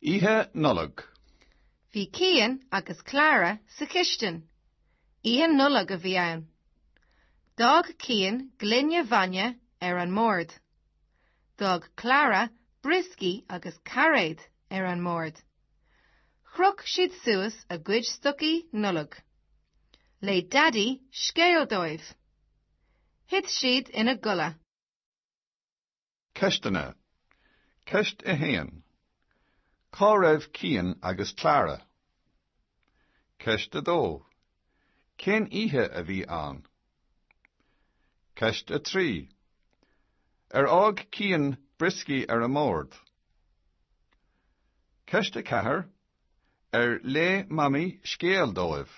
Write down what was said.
Oíche Nollag. Bhí Cian agus Clara sa chistin. Oíche Nollag a bhí ann. D'fhág Cian gloine bhainne ar an mbord. D'fhág Clara brioscaí agus cairéad ar an mbord. Chroch siad suas a gcuid stocaí Nollag. Léigh Daidí scéal dóibh. Thit siad ina gcodladh. Ceisteanna. Ceist 1. Cá raibh Cian agus Clara? Ceist 2. Cén oíche a bhí ann? Ceist 3. Ar fhág Cian brioscaí ar an mbord? Ceist 4. Ar léigh Mamaí scéal dóibh?